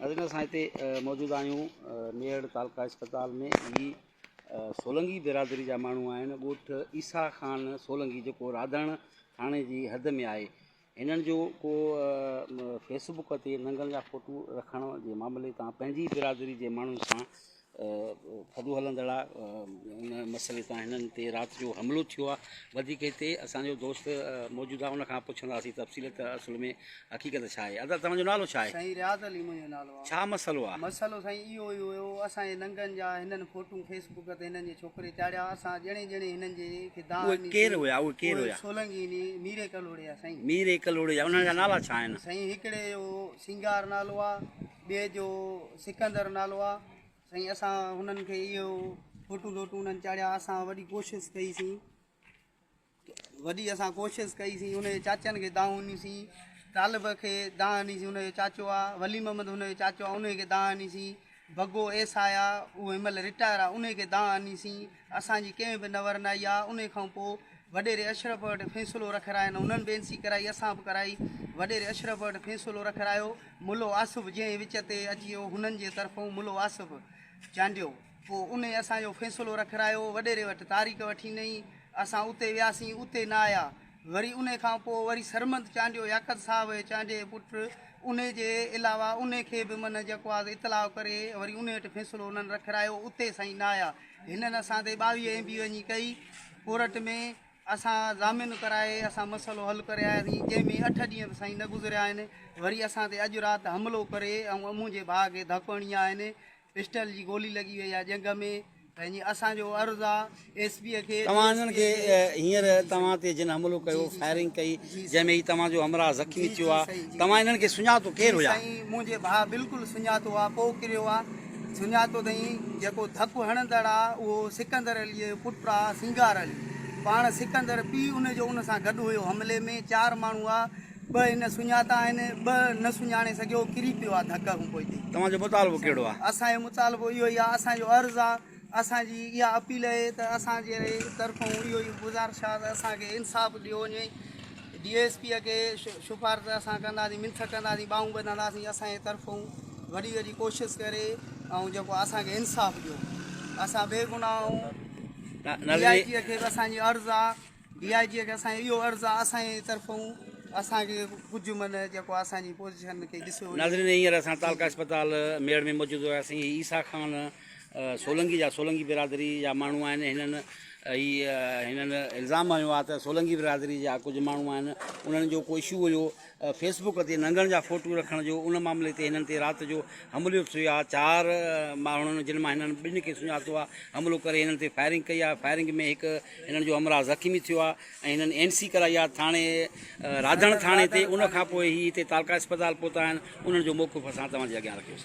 ناظرين اسان هتي موجود آهيون ميڙ تعلقه اسپتال ۾ هي سولنگي برادري جا ماڻهو آهن ڳوٺ عيسا خان سولنگي جيڪو راڌڻ ٿاڻي جي حد ۾ آهي هنن جو ڪو فيسبڪ تي ننگن جا ڦوٽو رکڻ جي معاملي تان پنهنجي برادري جي ماڻهن سان ٿڌو هلندڙ آ ان مسئلي تان هنن تي رات جو حملو ٿيو آ وڌيڪ هتي اسان جو دوست موجود آ ان کان پڇنداسين تفصيل ته اصل ۾ حقيقت ڇا آهي ادا توهان جو نالو ڇا آهي سائين رياض علي منهنجو نالو آ ڇا مسئلو آ مسئلو سائين اهو ئي هيو اسان جي ننگن جا هنن فوٽو فيس بڪ تي هنن جي ڇوڪري چاڙهيا اسان ڄڻي ڄڻي هنن جي کي دان اهي ڪير هيا اهي ڪير هيا سولنگي ني ميري ڪلهوڙي جا سائين ميري ڪلهوڙي جا انهن جا نالا ڇا آهن سائين هڪڙي جو سينگار نالو آ ٻئي جو سڪندر نالو آ سائين اسان هنن کي اهو فوٽو ڊوٽو انهن چاڙهيا اسان وڏي ڪوشش ڪئي سي وڏي اسان ڪوشش ڪئي سي انهن چاچن کي دانهون ڏني سي طالب کي دانهن ڏني سي انهن جو چاچو آ ولي محمد انهن جو چاچو آ انهن کي دانهن ڏني سي بگو ايس آيا اهو هن مهل رٽائر آ انهن کي دانهن ڏني سي اسان جي ڪنهن به نه ورنائي آ انهي کان پو وڏيري اشرف وٽ فيصلو رکرائين انهن به انسي ڪرائي اسان به ڪرائي وڏيري اشرف وٽ فيصلو رکرايو ملو آصف جنهن وچ تي اچي او هنن جي طرفون ملو آصف چانڊيو پو انهي اسان جو فيصلو رکرايو وڏيري وٽ تاريخ وٺي نئي اسان اتي وياسين اتي نه آيا وري انهي کان پوء وري سرمد چانڊيو ياقت صاحب ۽ چانڊيي جي پٽ انهي جي علاوه انهي کي به منهن جيڪو آز اطلاع ڪري وري انهي هٽ فيصلو انهن رکرايو اتي سائين نايا هنن اسان تي ٻاويهه ايم بي وڃي ڪئي ڪورٽ ۾ اسان ضامن ڪرائي اسان مسئلو حل ڪري آياسين جنهن ۾ اٺ ڏينهن ته سائين نه گذريا آهن وري اسان تي اڄ رات حملو ڪري ۽ منهنجي ڀاء کي ڌڪ هڻي آهن پسٽل جي گولي لڳي وئي آ ڄنگهه ۾ ته جي اسان جو عرض آ ايس پي کي توهان انهن کي هينئر توهان تي جن حملو ڪيو فائرنگ ڪئي جنهن ۾ هي توهان جو همراهه زخمي ٿيو آ توهان انهن کي سڃاتو ڪير هيا؟ سائين منهنجي ڀاء بلڪل سڃاتو آ پو ڪريو آ سڃاتو اٿئين جيڪو ڌپ هڻندڙ آ اهو سڪندر عليء جو پٽ آ سينگار علي پاڻ سڪندر پي ان جو ان سان گڏ هيو حملي ۾ چار ماڻهو آ ٻه هن سڃاتا آهن، ٻه نه سڃاڻي سگهيو، ڪري پيو آ ڌڪ هون پوئتي. توهان جو مطالبو ڪهڙو آ؟ اسان جو مطالبو اهو ئي آ، اسان جو عرض آ، اسان جي اها اپيل اهي ته اسان جي طرفون اهو ئي گذارش آ ته اسان کي انصاف ڏيو وڃي، ڊي ايس پي کي شفارت اسان ڪنداسين، منٿ ڪنداسين، ٻانهون ٻڌنداسين، اسان جي طرفون وڏي وڏي ڪوشش ڪري ۽ جيڪو اسان کي انصاف ڏيو، اسان بيگناهه آهون، ڊي آء جي کي به اسان جي عرض آ. ڊي آء جي کي اسان جي اهو عرض آ اسان جي طرفون اسان کي ڪجهه من جيڪو اسان جي پوزيشن کي ڏسيو وڃي. ناظرين هينئر اسان تعلقه اسپتال ميڙ ۾ موجود هياسين هي عيسيٰ خان سولنگي جا سولنگي برادري جا ماڻهو آهن هنن هي هنن الزام هنيو آ ته سولنگي برادري جا ڪجهه ماڻهو آهن انهن جو ڪو اشو هيو فيس بوڪ تي ننگڻ جا فوٽو رکڻ جو ان معاملي تي هنن تي رات جو حمليو ٿيو آهي چار ماڻهن جن مان هنن ٻن کي سڃاتو آهي حملو ڪري هنن تي فائرنگ ڪئي آهي فائرنگ ۾ هڪ هنن جو همراهه زخمي ٿيو آهي ۽ هنن اين سي ڪرائي آهي ٿاڻي راڌڻ ٿاڻي تي ان کانپوء هي هتي تعلقه اسپتال پهتا آهن انهن جو موقف اسان توهان جي اڳيان رکيوسين